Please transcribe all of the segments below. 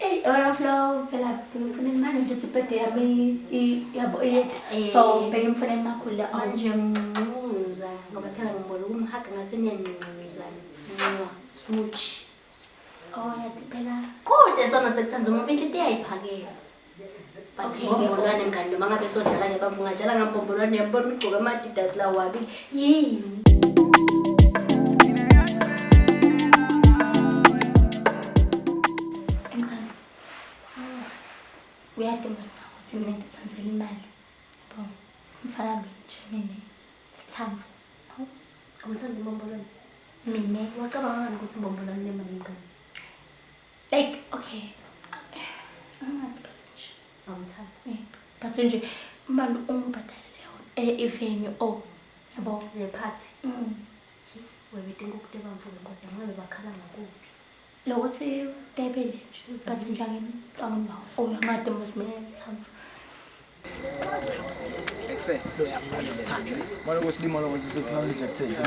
Eyi overflow phela ngifuna imali nje ukuthi ibhede yami yabo iye eh. so bheke ngifuna imakhulu manje mncuza ngoba phela ngibona ukumhaga ngathi niyancuza nqwa smooch oh yati phela kodwa sona sekuthanda uma mfethu ite yayiphakela Ngombolwane mngani noma ngabe sodlala ngebamvu ngadlala ngambombolwane yambona ugcoke ama-adidas lawo wabili yini uyaduma sina ukuthi mina ngithathele imali bo mfana lo nje mina sithamvu awuthandi imbombolwane mina wacabanga ngani ukuthi imbombolwane lemali mngani like okay awumthathi but nje imali ungibhadalele yona eh, ivenue o oh, yabo le party mm. webedinga ukudeba mvulo nkosi ngabe bakhala ngakuphi lokuthi debele nje but nje angimbawo oh, uyangademba simele ngithambe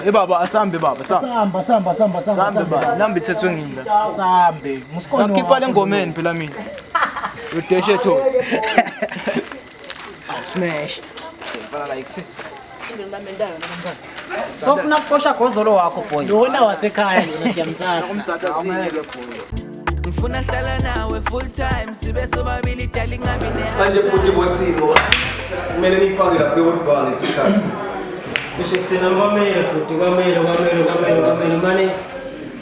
Eh baba asambe baba samba samba samba samba samba namba ithethwe ngimi la sambe musikona ngikhipha lengomeni phela mina udeshe tho smash fala like Sofuna kuqosha gozolo wakho boy. Lona wasekhaya lona siyamthatha. Umthatha siyeke boy. Ngifuna hlala nawe full time sibe sobabili dali ngabi ne. Manje bhuti bothini? Kumele nifake lapha eWorld Bank tikhathi. Kusho kusena kwamele bhuti kwamele kwamele kwamele kwamele manje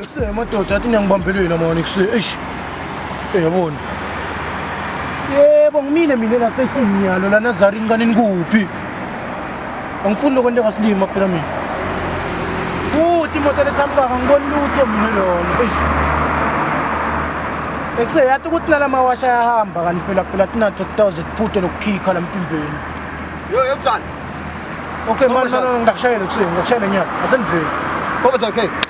Ekuseni amadoda athi niyangibambelweni amona ekuseni eish uyabona yebo ngimile mina la station ngiyalo lana zari ngani nikuphi Angifuni lokho into engasilima phela mina. Futhi imoto lethamsaka ngibona lutho mina lona. Eish. Ekuse yathi ukuthi nala mawasha yahamba kanti phela phela tinatho kutawuze kuphuthe lokukhikha la mpimbeni. Yo yomsana. Okay manje ngikushayele kusuke ngikushayele nyaka. Asendiveli. Over okay.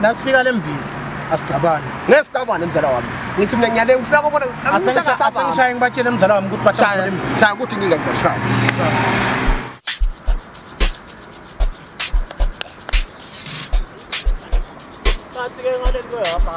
Nasifika lembili asigcabane. Ngesicabane mzala wami. Ngithi mina ngiyale ngifuna kubona asengishaye ngibatshele mzala wami ukuthi bashaya lembili. Shaya ukuthi inkinga ngizashaya. Bathi ke ngale nto yapha.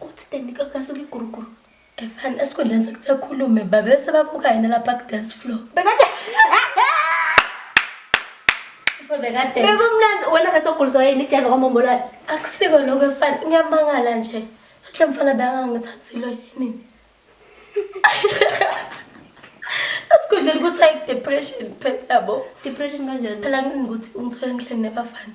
Uthi kanti kakasuka iguruguru. Efana esikhundleni sokuthi akhulume babe sebabuka yena lapha ku-dance floor. Bekade Bafo bekade bekumnandi wena besoguliswa yini ijeva kwamombolwane. akusiko lokho efana ngiyamangala nje. Futhi le mfana bekangangithathilo yini. Esikhundleni ukuthi ayi depression phela yabo. Depression kanjani? Phela ngini ukuthi ungithola ngihleli nebafana.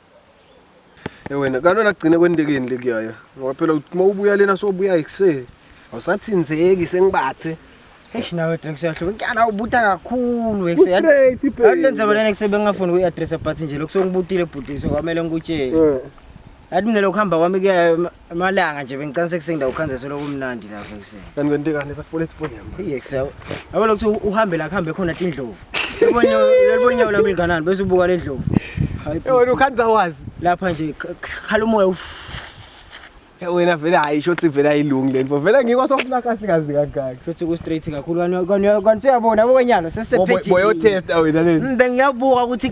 Eh wena kanti wena kugcine kwendekeni lekuyaya ngoba phela uthi uma ubuya lena sobuya ekuseni awusathinzeki sengibathe Eish nawe Drex uyahluka. Nkyala ubuta kakhulu exe. Straight iphela. Akulenze bona nexe bengafuni uyi-address but nje lokho sengibutile bhuti so kwamele ngikutshele. Eh. Yathi mina lokuhamba kwami kuya Amalanga nje bengicela sekuseni ndawo khanze solo kumnandi lapha ekuseni. Kanti kwente kanti sakufuna isifoni yami. Yes. Yabo lokho uhambe la kuhambe khona indlovu. Ubonye ubonye wona mlinganani bese ubuka le ndlovu. Hayi. Eh wena ukhanza wazi. Lapha nje khala umoya. Eh, wena vele hayi shothi vele ayilungi lento. Vele ngikho sokufuna kahle kazi kangaka. Shothi ku straight kakhulu. Kanti uyabona bokwenyalo sesephethe. Boyo test awena lento. Bengiyabuka ukuthi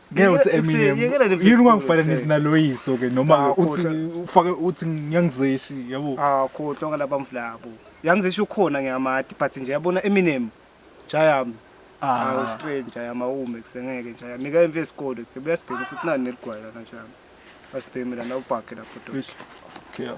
ngeke uthi Yeke- Eminem yekela le yini ungangifananisi Facebook, naloyiso ke noma Ah, uthi kodwa. ufake uthi ngiyangizeshi yabo Ah, khohlwa ngalaba mflabo. Yangizisho ukhona ngiyamadi but nje yabona Eminem. Jayami. Ah, Ah. straight njayama ume kusengeke njayami. Nika imfe isikole kusebuyasibheka futhi nani neligwala kanjani. Asibhemi la la ubhakhe la photo. Eish. Okay.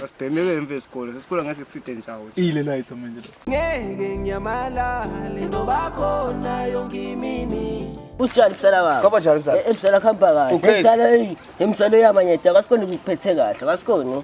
Asibhemi ke emva esikole. Esikole ngeke sithinte njawo. Ile light manje lo. ngeke ngiyamalale ngoba khona yonke imini Unjani msala wami? Kwaba njani mzala? Eh, Msala khamba kahle. Ugrace. Msala eyi, msala uyamanyeta, kasikoni ukuphethe kahle, kasikoni.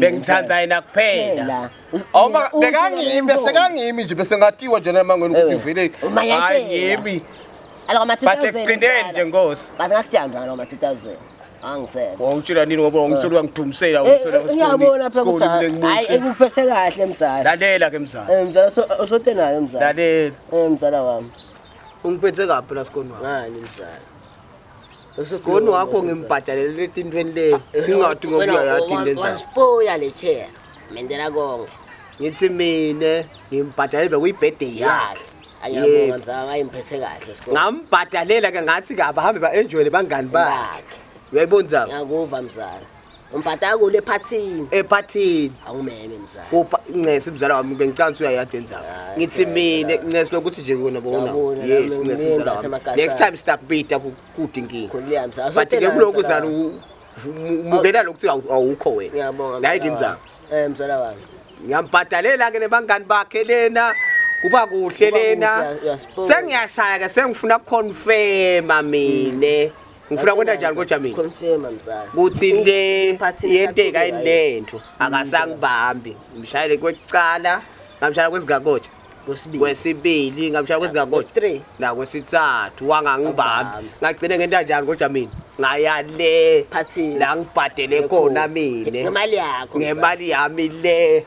bengithanda yena kuphela awuba bekangimi bese kangimi nje bese ngatiwa njena mangweni ukuthi vele hayi ngimi bathi ekugcineni nje nkosi bathi ngakutshela njalo ngama 2000 angicela wawutshela nini ngoba wangithola wangidumsela eh, wangithola eh, ngiyabona phela ukuthi hayi ekuphethe kahle mzala lalela ke mzala eh mzala osote nayo mzala lalela eh mzala wami ungiphethe kabi la sikoni wami ngani mzala Sigoni wakho ngimbhadalele etintweni le. Ah, Ngingathi ngokuya yathi lenza. Wasipoya le chair. Mendela konke. Ngithi mina ngimbhadalele bekuyibhede yakhe. Ayabonga mzala ayimphethe kahle sikole. Ngambhadalela ke ngathi ke abahambe ba enjoy bangani bakhe. Uyayibona mzala? Ngiyakuva mzala. Umpatha kule phathini. Ephathini. Awumeme mzala. Upha ncese mzala wami bengicanga uyayade nzaba. Hayi, Ngithi phela, mina phela. ncese lokuthi nje kona bona. Ngiyabona, Yes nami ncese ngimile mzala wami. ngasemakasana. Next time sitakubita kude inkinga. Khulile mzala. But ke kuloko uzana umukela lokuthi awu- awukho wena. Ngiyabonga. Nayi mzala nginzaba. wami. Eh mzala wami. Ngiyambhadalela ke nebangani bakhe lena. Kuba kuhle Kuba lena. kuhle, uyasibona. Sengiyashaya ke sengifuna confirma mina. ngifuna kwenta njani kodwa mina confirma mzala kuthi le yenteka yini lento akasangibambi ngimshayele kwecala ngamshayela kwezingakotsha kwesibili ngamshayela kwezingakotsha la kwesithathu wangangibambi ngagcine ngenta njani kodwa mina ngaya le la ngibhadele khona mina ngemali yakho ngemali yami le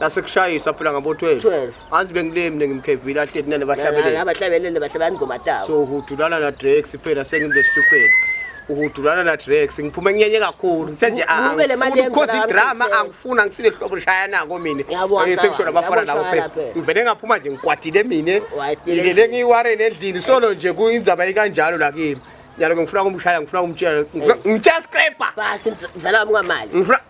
nasekushayiswa phela ngabo 12 12 anzi bengilemi mina ngimkhevile ahleti nene bahlabelele abahlabelele bahle banigoma tawo so hudulana na Drex phela sengimbe stupid uhudulana na Drex ngiphume nyenye kakhulu ngithe nje angifuni because idrama angifuna ngisile hlobo lishaya nako mina eh, sekusho labafana labo phela ngivele ngaphuma nje ngikwatile mina ngilele ngiwarene endlini solo nje kuyindzaba ikanjalo la kimi nyalo ngifuna kumshaya ngifuna kumtshela ngitshela scraper but ngizala wami ngamali ngifuna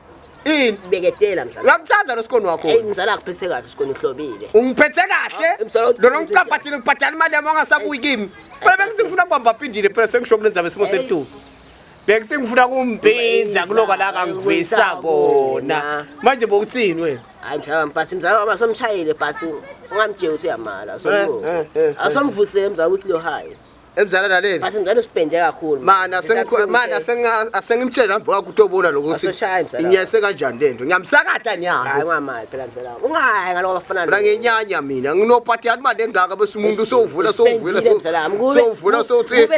Ini? Beketela mzala. Uyakuthanda lo sikoni wakho. Hey mzala akuphethe kahle sikoni uhlobile. Ungiphethe kahle? Ah, Lona ungicaphathile ngibhadala imali yami ongasabuyi kimi. Phela bengithi ngifuna kubamba phindile phela sengisho kulenza besimo sebutuku. Bengise ngifuna kumpinza kuloka la kangivisa kona. Manje bokuthini wena? Hayi mzala mphathi mzala wami asomshayile phathi ungamtsheli ukuthi uyamala. Asomvuse eh, eh, eh, mzala ukuthi lo hayi. emzala naleli base mzala usipende kakhulu mana sengikho mana senga asengimtshela nami baka kutobona lokuthi inyese kanjani lento ngiyamsakata nya hayi ngamali phela mzala ungayi ngaloko bafana mina ngenyanya mina nginopati yani manje engaka bese umuntu usovula sovula sovula sothi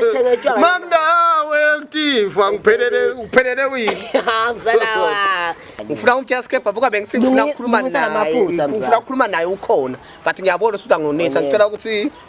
mamnawe kutiva ngiphelele ngiphelele uyini ha mzala ngifuna umtshela skepha buka bengisifuna ukukhuluma naye ngifuna ukukhuluma naye ukhona but ngiyabona usuka ngonisa ngicela ukuthi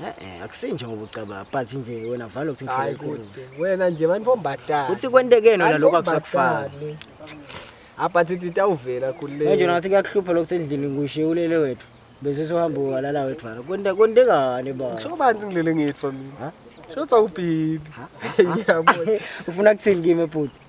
Eh akusinje ngoba ucabanga but nje wena valo ukuthi ngifike kude. Wena nje manje fombadala. Uthi kwentekeni wena lokho akusakufaka. Aphathi ah, tawuvela khulile. Manje nathi kuyakuhlupha lokho endlini ngushiye ulele wethu. Bese sohamba walala wethu valo. Kwente kwentekani ba? Kusho banzi ngilele ngithu mina. Shothi awubhili. Ngiyabona. Ufuna kuthini kimi ebhuti?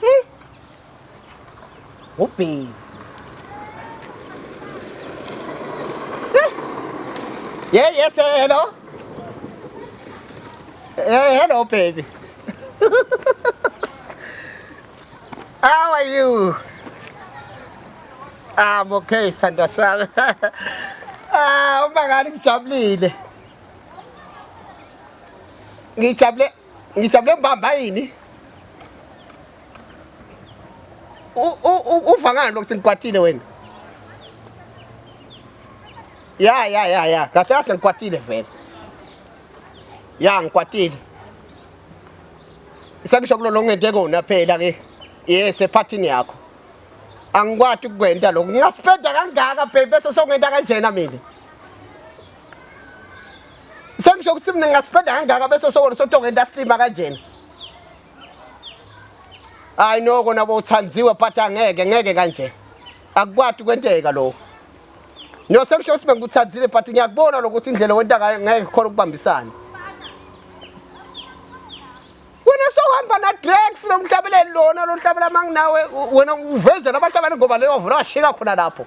Hmm. Ubhezi. Eh. Yeah, yes, hello. Hey, eh, hello, baby. How are you? I'm okay, sithandwa sami. Ah, uma ngani ngijabulile. ngijabule ngijabule mbamba yini uva ngani lokhu sengikwatile wena ya ya ya ya kahle kahle ngikwatile vele ya ngikwatile sengisho kulo lo ngente kona phela ke yes ephathini yakho angikwati ukukwenta lokhu ngingasipenda kangaka baby bese songenta kanjena mina Sengisho ukuthi mina ngingasipenda kangaka bese sokona sotonga intaslima kanjena. Hayi no kona bowuthandiwe but angeke ngeke kanje. Akukwati kwenteka lokho. No sengisho ukuthi bengikuthandile but ngiyakubona lokuthi indlela wenta ngayo ngeke khona ukubambisana. Wena sohamba na Drex lomhlabeleli lona lomhlabela manginawe wena uvezela abantu abantu ngoba leyo vula washika khona lapho.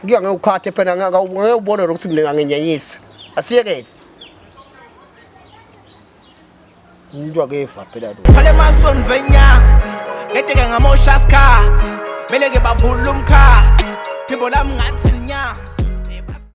Kuya ngekukhathe phela ngeke ubone ukuthi mina ngangenyanyisa. Asiyekele. Umuntu akefa phela lo. Phale mason venyazi. Ngedeke ngamosha isikhathi. Mele ke bavula umkhathi. Phimbo lami ngathi